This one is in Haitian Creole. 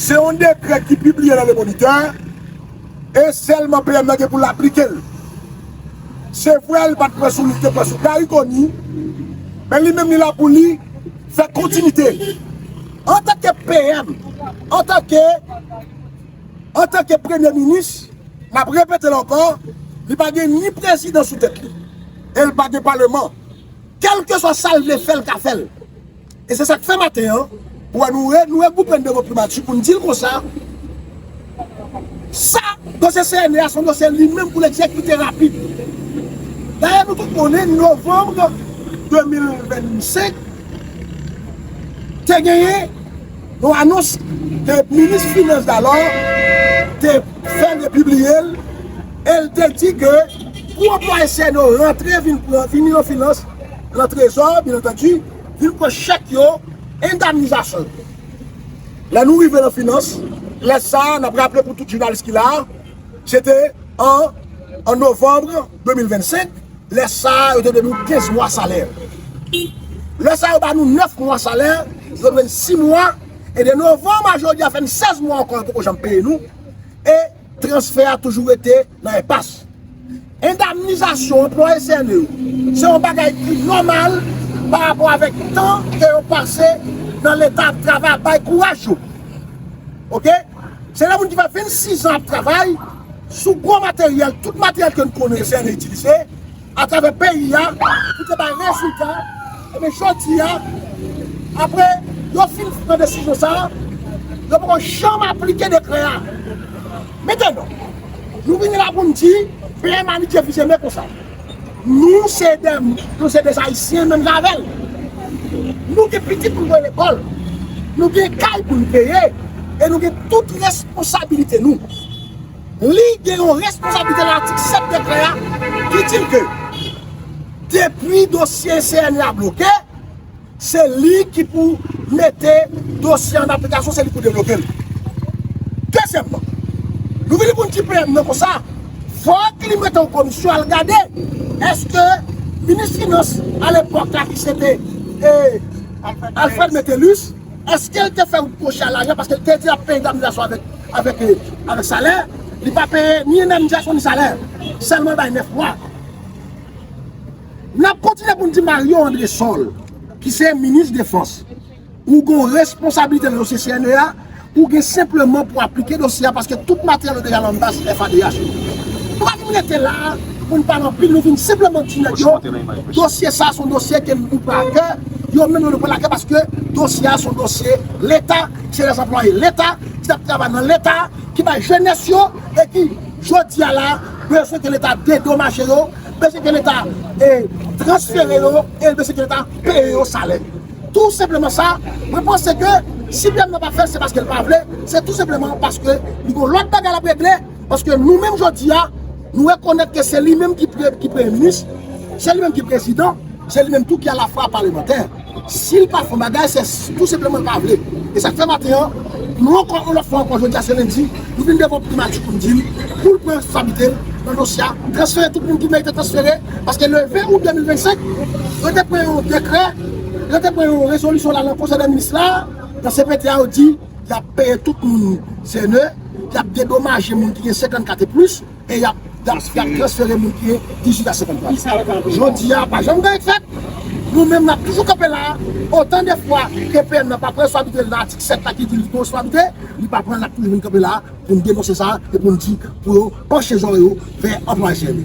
Se yon dekrè ki pibliye nan Le Moniteur e sèlman PM nan gen pou l aplike l. Se vre li pa t pran sou li, li te pran sou Gary Conille, men li menm li la pou li fè kontinite. Antanke PM, antanke Premye Minis, m ap repete l ankò, li pa gen ni prezidan sou tèt li. El pa gen paleman. Kelkeswa sal vle fè l ka fè l. E se sak fè maten an ou wè nou nou regroupe n devan primati pou n di l konsa sa dosye CNE a son dosye li menm pou l egzekite rapid. Dayè nou tout konnen novanm 2025 te genyen Yon anons ke minis finans dalò te fè de pibliye l e l te di ke pou anplwaye CNO yo rantre vin pran vin yon finans lan trezò byen antandi vin pran chèk yo endamnizasyon yo. Lè nou rive lan finans lè sa a n ap raple pou tout jounalis ki la a se te an an novanbre. 2025, lè sa a yo te dwe nou 15 mwa salè. Lè sa a yo ba nou 9 mwa salè, yo dwe n 6 mwa, e de novanm a jodi a fè n 16 mwa ankò yo poko janm peye nou, e transfè a toujou rete nan enpas. Endamnizasyon anplwaye CNE yo, se yon bagay ki nòmal pa rapò avèk tan ke yo pase nan leta ap travay, ap bay kouraj yo. Ok, se yon moun ki fè 26 zan ap travay. sou gwo materyèl, tout materyèl ke n konnen CNE itilize atravè peyi a pou te bay rezilta, enben jodi a, apre yo fin pran desizyon sa a, yo pa ko janm aplike dekrè a. Metenon, nou vini la pou n di, plen manike vizeme konsa. Nou se de nou se de ayisyen menm jan avèl nou gen pitit pou nou voye lekòl nou gen kay pou nou peye e nou gen tout responsabilite nou li gen yon responsabilite nan atik 7 dekrè a ki di ke depi dosye CNE a bloke. Se li ki pou mete dosye an aplikasyon, se li pou devlope l. Dezyèmman, nou vini pou n di PM nan konsa, fòk li mete yon komisyon al gade èske minis finans alepòk la ki se te Alfred Metellus, èske l te fè yon pwoje a lajan paske l te di l ap peye indemnizasyon avèk salè, li pa peye ni endemnizasyon ni salè, sèlman l bay 9 mwa. N ap kontinye pou n di Mario Andresol, ki se minis defans, ou gen yon responsablite nan dosye CNEA, ou gen senpleman pou aplike dosye a paske tout materyèl yo deja nan baz FADH. Nou pa vin rete la a pou n pale anpil, nou vin senpleman di nèg yo dosye sa a se yon dosye ke nou pran akè, yo menm yo dwe pran l akè paske dosye a se yon dosye Leta, se lè anplwaye Leta, ki t ap travay nan Leta, ki bay jenès yo e ki jodi a la a bezwen ke Leta dedomaje yo. bezwen ke leta transfere yo e l bezwen ke leta peye yo salè. Tou senpleman sa, mwen panse ke si PM nan pa fè l se paske l pa vle, se tou senpleman paske li gen lòt bagay l ap regle, paske nou menm jodi a nou rekonèt ke se li menm ki premye minis, se li menm ki prezidan, se li menm tou ki alafwa palemantè. Sil pa fè yon bagay se tou senpleman l pa vle. E sak fè maten an, nou ankò yon lòt fwa ankò jodi a se lendi, nou vin devan primati pou n di l pou l pran responsabilite l nan dosye a, transfere tout moun ki merite transfere paske le 20 out 2025 yo te pran yon dekrè, yo te pran yon rezolisyon la nan konsèy dè minis la, nan cpt a yo di y ap peye tout moun sène, y ap dedomaje moun ki gen 54 e plis. E yap transfere moun ki dijit a 50 plas. Jodi a pa janm gen et fèt. Nou menm nap toujou kanpe la. Otan de fwa EPN nan pa pran sou abitre nan atik 7 la ki di li gen sou abitre, li pa pran nap toujou vin kanpe la pou nou denonse sa e pou nou di pou yo panche zorey yo vè anplwaye CNE.